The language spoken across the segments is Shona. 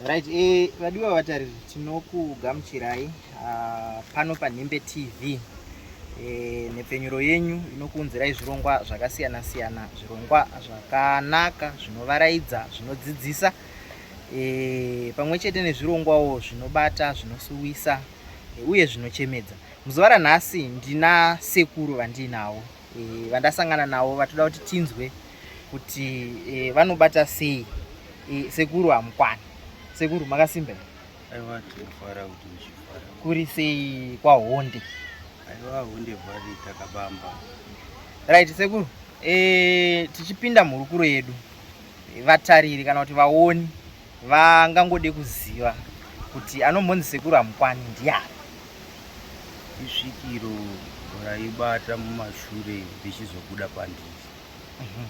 Right, eh, vadiwa vatariri tinokugamuchirai uh, pano panhimbe tv eh, nhepfenyuro yenyu inokuunzirai zvirongwa zvakasiyana siyana zvirongwa zvakanaka zvinovaraidza zvinodzidzisa eh, pamwe chete nezvirongwawo zvinobata zvinosuwisa eh, uye zvinochemedza muzuva ranhasi ndina sekuru vandiinavo e, vandasangana navo vatoda kuti tinzwe kuti e, vanobata sei e, sekuru hamukwana sekuru makasimba aiwa tinofara kuti muchifara kuri sei kwahonde aiwa honde vhari takabamba right sekuru e, tichipinda mhurukuro yedu vatariri kana kuti vaoni vangangode kuziva kuti anombonzi sekuru amukwani ndiani isvikiro raibata mumashure richizobuda pandiri mhm.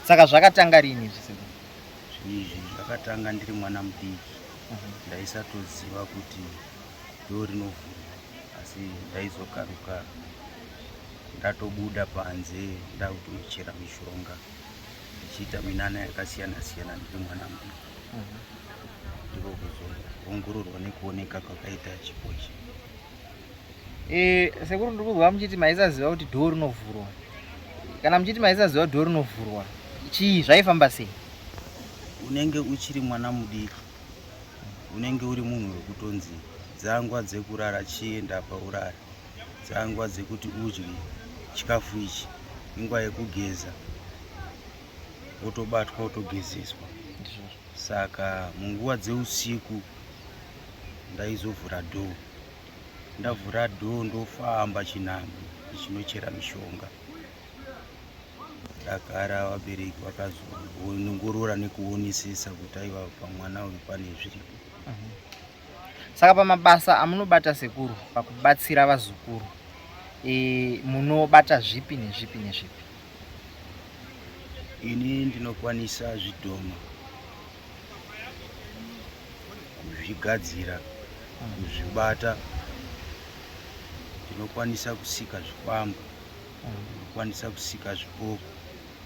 saka zvakatanga rini izvi sekuru izvi zvakatanga ndiri mwana mudiki mhm. ndaisatoziva kuti ndo rinovhura asi ndaizokaruka ndatobuda panze ndakutochera mishonga ndichiita minana yakasiyana siyana ndiri mwana muduku mhm. ndiko kuzoongororwa nekuoneka kwakaita chipo ichi eh, sekuru ndiri kuzwa muchiti maisaziva kuti dhoo rinovhurwa kana muchiti maisaziva dhoo rinovhurwa chii zvaifamba sei unenge uchiri mwana mudiki unenge uri munhu wekutonzi dzangwa dzekurara chienda paurara dzanguva dzekuti udye chikafu ichi inguva yekugeza wotobatwa wotogezeswa saka munguva dzeusiku ndaizovhura dhoo ndavhura dhoo ndofamba chinhambo ichinochera mishonga ndagara vabereki vakazonongorora nekuonesesa kuti aiva pamwana uyu pane zviripo Saka pamabasa amunobata sekuru pakubatsira vazukuru e, munobata zvipi nezvipi nezvipi? Ini ndinokwanisa zvidhoma kuzvigadzira, hmm. kuzvibata, ndinokwanisa kusika zvikwambo, hmm. ndinokwanisa kusika zvipoko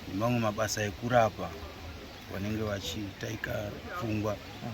nemamwe mabasa ekurapa vanenge vachitaika pfungwa. Hmm.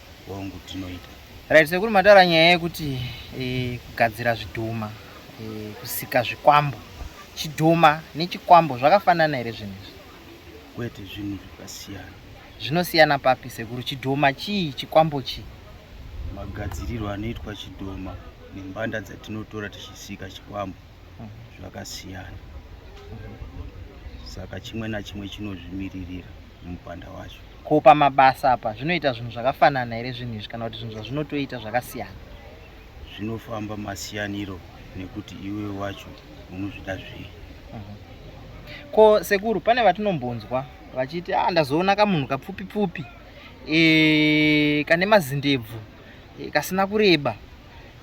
hongu tinoita right sekuru mataura nyaya yekuti e, kugadzira zvidhoma e, kusika zvikwambo chidhoma nechikwambo zvakafanana here zvinhu izvi kwete zvinhu zvakasiyana zvinosiyana papi sekuru chidhoma chii chikwambo chii magadzirirwo anoitwa chidhoma nembanda dzatinotora tichisika chikwambo mhm. zvakasiyana saka chimwe nachimwe chinozvimiririra mupanda wacho. Ko pamabasa apa zvinoita zvinhu zvakafanana here zvinhu izvi kana kuti zvinhu zvazvinotoita zvakasiyana? Zvinofamba masiyaniro nekuti iwe wacho unozvida zvei. Mhm. Ko sekuru pane vatinombonzwa vachiti ah, ndazoona kamunhu kapfupi pfupi e, kane mazindebvu e, kasina kureba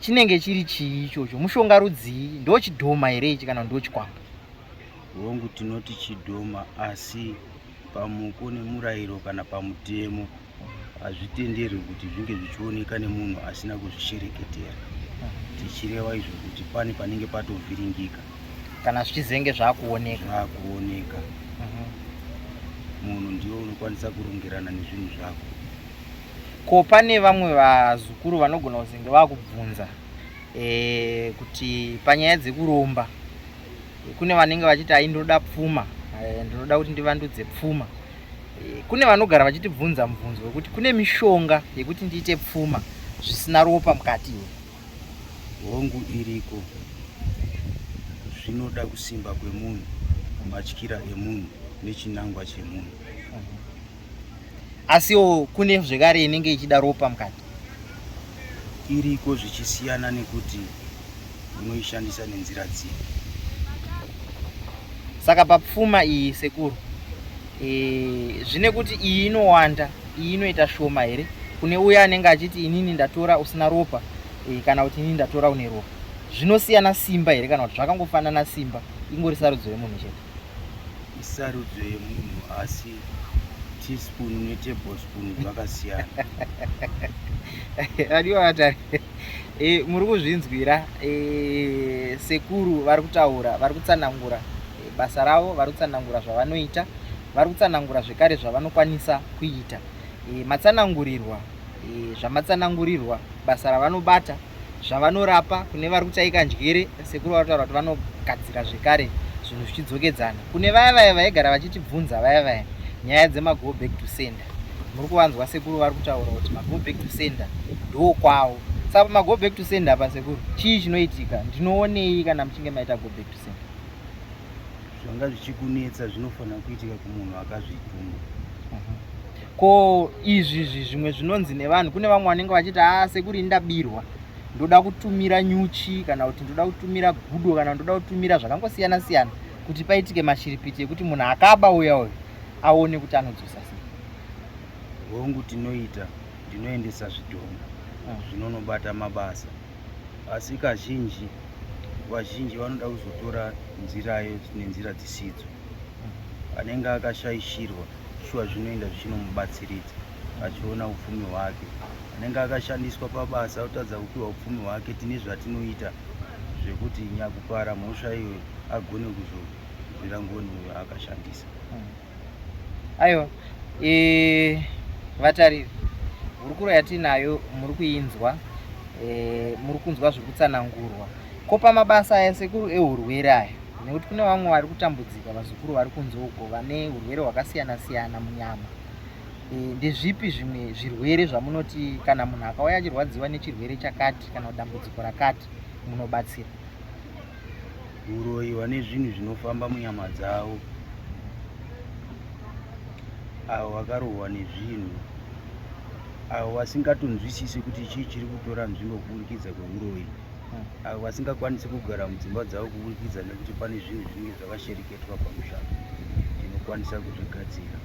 chinenge chiri chii ichocho mushonga rudzii ndochidhoma here ichi kana ndochikwambo Hongu tinoti chidhoma asi pamuko nemurayiro kana pamutemo hazvitenderwi kuti zvinge zvichioneka nemunhu asina kuzvishereketera tichireva izvo kuti pane panenge patovhiringika kana zvichizenge zvakuoneka zvakuoneka mhm. munhu ndiwo unokwanisa kurongerana nezvinhu zvako ko pane vamwe vazukuru vanogona kuzenge vakubvunza e, kuti panyaya dzekuromba kune vanenge vachiti ai ndinoda pfuma eh, ndinoda kuti ndivandudze pfuma eh, kune vanogara vachitibvunza mubvunzo wekuti kune mishonga yekuti ndiite pfuma zvisina ropa mukati iwe hongu iriko zvinoda kusimba kwemunhu matyira emunhu nechinangwa chemunhu asiwo kune zvekare inenge ichida ropa mukati iriko zvichisiyana nekuti unoishandisa nenzira dzii saka papfuma iyi sekuru e, zvine kuti iyi inowanda iyi inoita shoma here kune uya anenge achiti inini ndatora usina ropa e, kana kuti inini ndatora une ropa zvinosiyana simba here kana kuti zvakangofanana simba ingori sarudzo yemunhu chete isarudzo yemunhu asi teaspoon netablespoon zvakasiyana adiwata e, muri kuzvinzwira e, sekuru vari kutaura vari kutsanangura e, basa ravo vari kutsanangura zvavanoita vari kutsanangura zvekare zvavanokwanisa kuita e, matsanangurirwa e, zvamatsanangurirwa basa ravanobata zvavanorapa kune vari kutaika njere sekuru vari kutaura kuti vanogadzira zvekare zvinhu zvichidzokedzana kune vaya vaya vaigara vachitibvunza vaya vaya nyaya dzemago back to sender muri kuvanzwa sekuru vari kutaura kuti mago back to sender ndo kwavo saka pamago back to sender apa sekuru chii chinoitika ndinoonei kana muchinge maita go back to sender zvanga zvichikunetsa zvinofanira kuitika kumunhu akazvituma mhm. ko izvi izvi zvimwe zvinonzi nevanhu kune vamwe vanenge vachiti a ah, sekuri ndabirwa ndoda kutumira nyuchi kana kuti ndoda kutumira gudo kana ndoda kutumira zvakangosiyana siyana kuti paitike mashiripiti ekuti munhu akaba uya uyu aone kuti anodzosa sei hongu tinoita ndinoendesa zvidhoma hmm. zvinonobata mabasa asi kazhinji vazhinji vanoda kuzotora nzirayo nenzira dzisidzo hmm. anenge akashaishirwa shuwa zvinoenda zvichinomubatsiridza achiona upfumi hwake anenge akashandiswa pabasa otadza kupiwa upfumi hwake tine zvatinoita zvekuti nyakupara mhosva iyo agone kuzorwira ngoni uyo akashandisa hmm. aiwa e, vatariri hurukuro yatinayo muri kuinzwa e, muri kunzwa zviri kutsanangurwa ko pamabasa aya sekuru ehurwere aya nekuti kune vamwe vari kutambudzika vazukuru vari kunze uko vane urwere hwakasiyana siyana munyama e, ndezvipi zvimwe zvirwere zvamunoti kana munhu akauya achirwadziwa nechirwere chakati kana dambudziko rakati munobatsira uroyi vane zvinhu zvinofamba munyama dzavo avo vakarohwa nezvinhu avo vasingatonzwisisi kuti chii chiri kutora nzvimbo kuburikidza kweuroyi avo vasingakwanisi kugara mudzimba dzavo kuburikidza nekuti pane zvinhu zvinenge zvakashereketwa pamusha tinokwanisa kuzvigadzira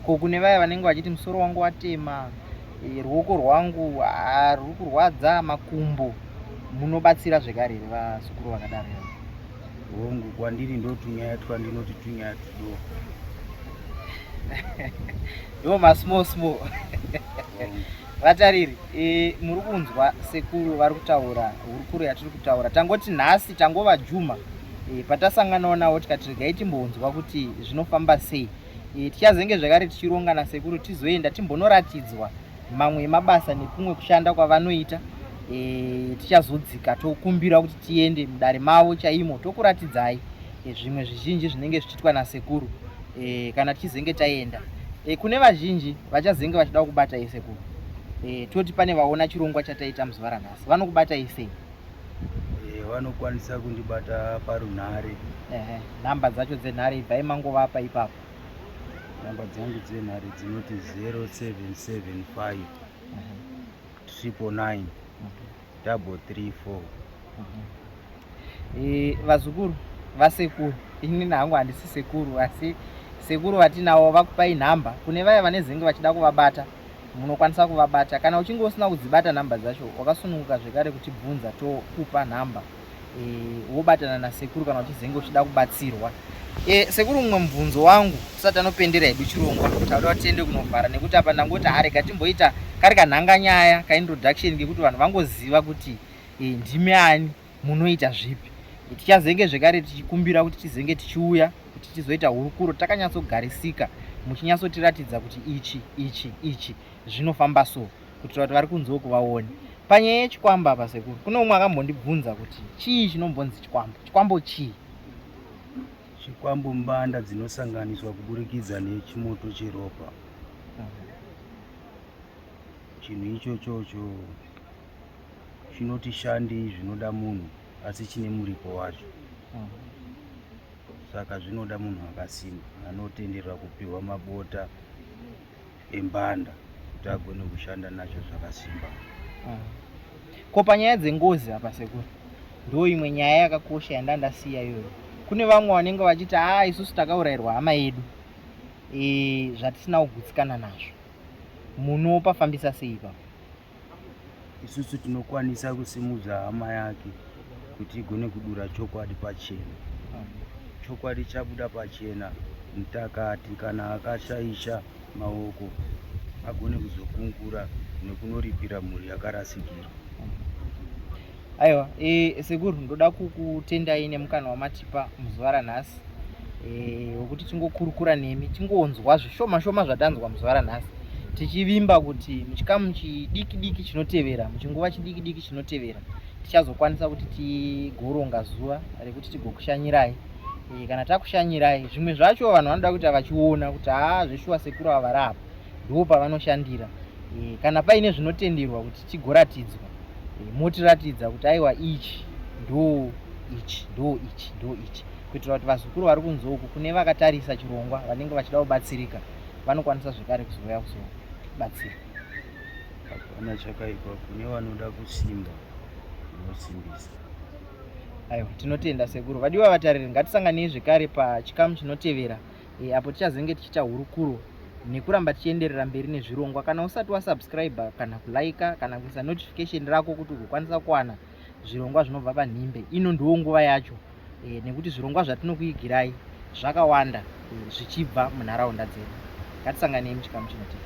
ko kune vaya vanenge vachiti musoro wangu watema eh, ruoko rwangu ah, ruri kurwadza makumbo munobatsira zvekare here vasukuru vakadaro yavo hongu kwandiri ndotunyaya twandinoti tunyaya tudoko ndo masmall small Vatariri, e, muri kunzwa sekuru vari kutaura hurukuro yatiri kutaura. Tangoti nhasi tangova Juma e, patasanganawo navo tikati regai timbonzwa kuti zvinofamba sei. E, tichazenge zvakare tichironga nasekuru tizoenda timbonoratidzwa mamwe emabasa nekumwe kushanda kwavanoita e, tichazodzika tokumbira kuti tiende mudare mavo chaimo tokuratidzai e, zvimwe zvizhinji zvinenge zvichiitwa nasekuru e, kana tichizenge taenda e, kune vazhinji vachazenge vachida kubata isekuru e, toti pane vaona chirongwa chataita muzuva ranhasi vanokubata isei e, vanokwanisa kundibata parunhare nhamba dzacho dzenhare ibvai mangovapa ipapo nhamba dzangu dzenhare dzinoti 0775 triple nine double three four eh, vazukuru vasekuru ini nangu handisi sekuru asi sekuru vatinawo vakupai nhamba kune vaya vane zenge vachida kuvabata munokwanisa kuvabata kana uchinge usina kudzibata nhamba dzacho wakasununguka zvekare kutibvunza tokupa nhamba wobatana nasekuru kana uchizenge uchida kubatsirwa e, sekuru mumwe mubvunzo wangu tisati anopendera hedu chirongwa tauda tiende kunovhara nekuti apa ndangoti harega timboita kari kanhanga nyaya kaintroduction kekuti vanhu vangoziva kuti e, ndimi ani munoita zvipi tichazenge zvekare tichikumbira kuti tizenge tichiuya kuti tizoita hurukuro takanyatsogarisika muchinyatsotiratidza kuti ichi ichi ichi zvinofamba so kuitira kuti vari kunze uku vaone panyaya yechikwambo apa sekuru kune umwe akambondibvunza kuti chii chinombonzi chikwambo chikwambo chii chikwambo mbanda dzinosanganiswa kuburikidza nechimoto cheropa chinhu ichochocho chinoti shandi zvinoda munhu asi chine muripo wacho saka zvinoda munhu akasimba anotenderwa kupiwa mabota embanda kuti agone kushanda nacho zvakasimba ah. ko panyaya dzengozi apa sekuru ndo imwe nyaya yakakosha yanda ndasiya iyoyo kune vamwe vanenge vachiti haa ah, isusu takaurairwa hama yedu e, zvatisina kugutsikana nazvo munopafambisa sei ipapo isusu tinokwanisa kusimudza hama yake kuti igone kudura chokwadi pachena chokwadi chabuda pachena mutakati kana akashaisha maoko agone kuzokungura nekunoripira mhuri yakarasikirwa aiwa e, sekuru ndoda kukutendai nemukana wamatipa muzuva ranhasi eh, wekuti e, tingokurukura nemi tingonzwa zvishoma shoma zvatanzwa muzuva ranhasi tichivimba kuti muchikamu chidiki diki chinotevera muchinguva chidiki diki chinotevera tichazokwanisa kuti tigoronga zuva rekuti tigokushanyirai e, kana takushanyirai zvimwe zvacho vanhu vanoda kuita vachiona kuti haa zveshuwa sekuru ava vari apa ndipo pavanoshandira e, kana paine zvinotenderwa kuti chigoratidzwa motiratidza kuti aiwa ichi ndo ichi ndo ichi ndo ichi kuitira kuti vazukuru vari kunze uku kune vakatarisa chirongwa vanenge vachida kubatsirika vanokwanisa zvekare kuzouya kuzobatsira hapana chakaipa kune vanoda kusimba unosimbisa aiwa tinotenda sekuru vadiwa vatariri ngatisanganei zvekare pachikamu chinotevera e, apo tichazenge tichiita hurukuro nekuramba tichienderera mberi nezvirongwa kana usati wasubscribe kana kulaika kana kuisa notification rako kuti ugokwanisa kuwana zvirongwa zvinobva panhimbe ino ndiwo nguva yacho e, nekuti zvirongwa zvatinokuigirai zvakawanda e, zvichibva munharaunda dzedu ngatisanganei muchikamu chinotii